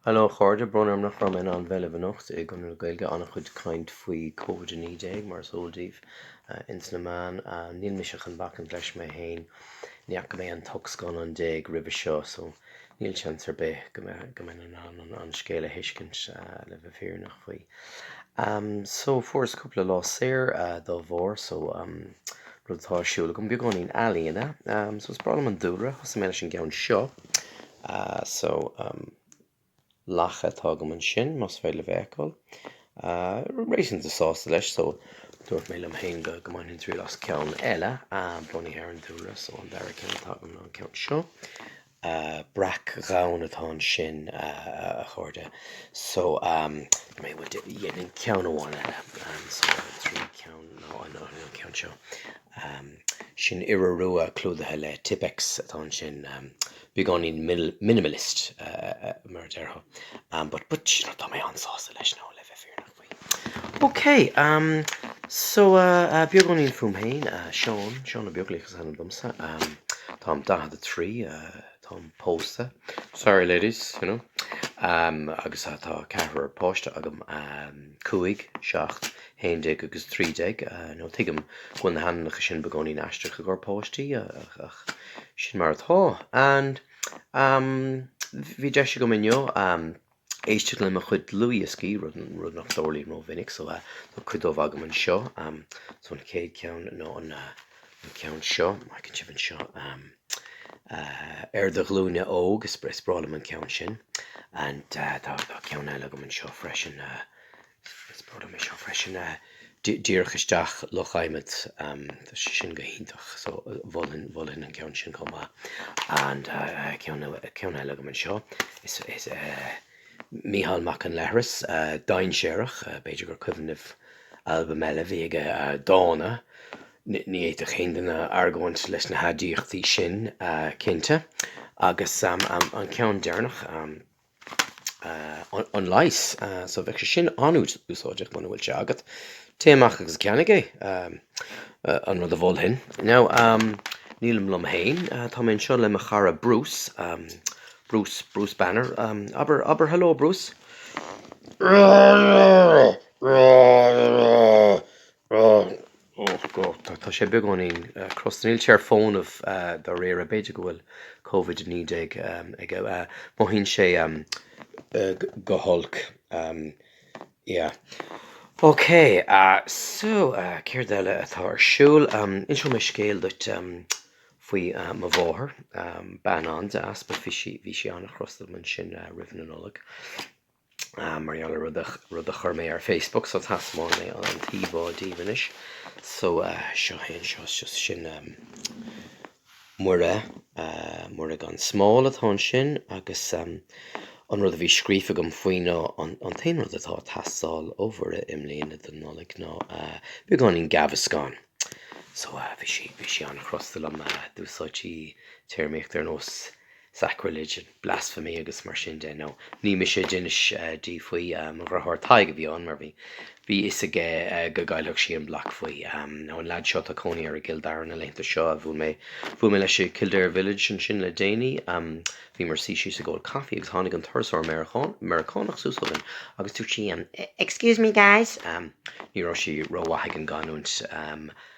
Heileo a chairde, brón orm nach raibh mé in ann bheith libh anocht i gConradh na Gaeilge, an-chuid caint faoi Covid-19 mar is eol daoibh ins na meáin. Níl mise chun bacaint leis mé fhéin, ní fhaca mé an t-ocht scannán déag roimhe seo so níl seans ar bith go mbeinn in ann an scéal a thuiscint le bheith fírinneach faoi. So fuaireas cúpla lá saor dá bharr so rud atá ar siúl agam, beagáinín ealaíona so is breá liom an dúlra, thosaigh mé leis an gceann seo. Ah, so, um, lacha atá agam ansin, más féidir libh a fheiceáil. Ah, réasúnta sásta leis, so, dúirt mé liom féin go mbainfinn triail as ceann eile, ah, bunaithe ar an dúlra, so an dara ceann atá agam ná an ceann seo. Ah, breac donn atá ansin, ah, a chairde, so, um, mé bhuel dhéanfainn ceann amháin eile, ah, so, tríú ceann ná an ceann seo. Um sin iora rua clúdaithe le Tippex atá ansin, um beagáinín minimalist mar a déarfá. Um but but you know tá mé an-sásta leis now le bheith fírinneach faoi. Ok, um so uh beagáinín fúm féin, uh Seán, Seán Ó Beaglaoich is ainm domsa. Um táim 43, uh táim pósta, sorry ladies, you know, um agus tá ceathrar páiste agam, um cúig, seacht, 11 agus 13, now tuigim go bhfuil na hainmneacha sin beagáinín aisteach i gcomhair páistí, ach sin mar atá. And, bhí deis agam inniu éisteacht le mo chuid dlúthdhioscaí, rud nach dtarlaíonn rómhinic, so tá cuid dóibh agam anseo, so an chéad cheann ná an ceann seo, má fheiceann sibh anseo, Ar do Ghlúine Óg, is breá liom an ceann sin, and tá ceann eile agam anseo freisin, Is breá liom é seo freisin, díreach isteach, Loch Adhmaid, tá sé sin go hiontach, so mholfainn an ceann sin chomh maith. And ceann eile agam anseo, is Mícheál Mac an Leithris, Dainséarach, b'fhéidir gur cuimhin libh albam eile a bhí aige, Dána, ní fhéadfadh aon duine argóint leis na haidiachtaí sin cinnte. Agus an ceann deireanach, An Leigheas. So bheadh sé sin an-úsáideach muna bhfuil sé agat. Téigh amach agus ceannaigh é, an rud a mholfainn. Now, nílim liom féin, tá mé anseo le mo chara Bruce, Bruce, Bruce Banner. Abair, abair hello, Bruce. Tá sé beagáinín crosta. Níl sé ar fónamh dáiríre. B'fhéidir go bhfuil Covid 19 aige. Mothaíonn sé go holc. Yeah. OK. So, céard eile atá ar siúl? Inseoidh mé scéal duit faoi mo mháthair. Bean an-deas. Bhí sí an-chrosta liom ansin roimh an Nollaig. mar gheall ar rud, rud a chuir mé ar Facebook, so taispeánfaidh mé an t-íomhá díbh anois. So seo é anseo, so sin Muire, Muire gan Smál atá ansin agus an rud a bhí scríofa agam faoi ná an t-aon rud atá ag teastáil ó Mhuire i mbliana don Nollaig ná beagáinín Gaviscon. So bhí sí, bhí sí an-chrosta liom, d'úsáid sí téarmaíocht ar nós, sacrilege and blasphemy agus mar sin de, now ní mise a d'inis di faoi. Mo dhriotháir Tadhg a bhí ann, mar bhí bhí fhios aige go gcaillfeadh sí an block faoi, ó an lead seo, tá cónaí air i gCill Dara na laethanta seo, a bhuail mé bhuail mé leis i Kildare Village ansin le déanaí. Bhíomar suí síos ag ól coffee agus tháinig an turasóir Meiriceán Meiriceánach suas chugainn agus dúirt sí, Excuse me guys. Ní raibh sí rómhaith ag an gcanúint.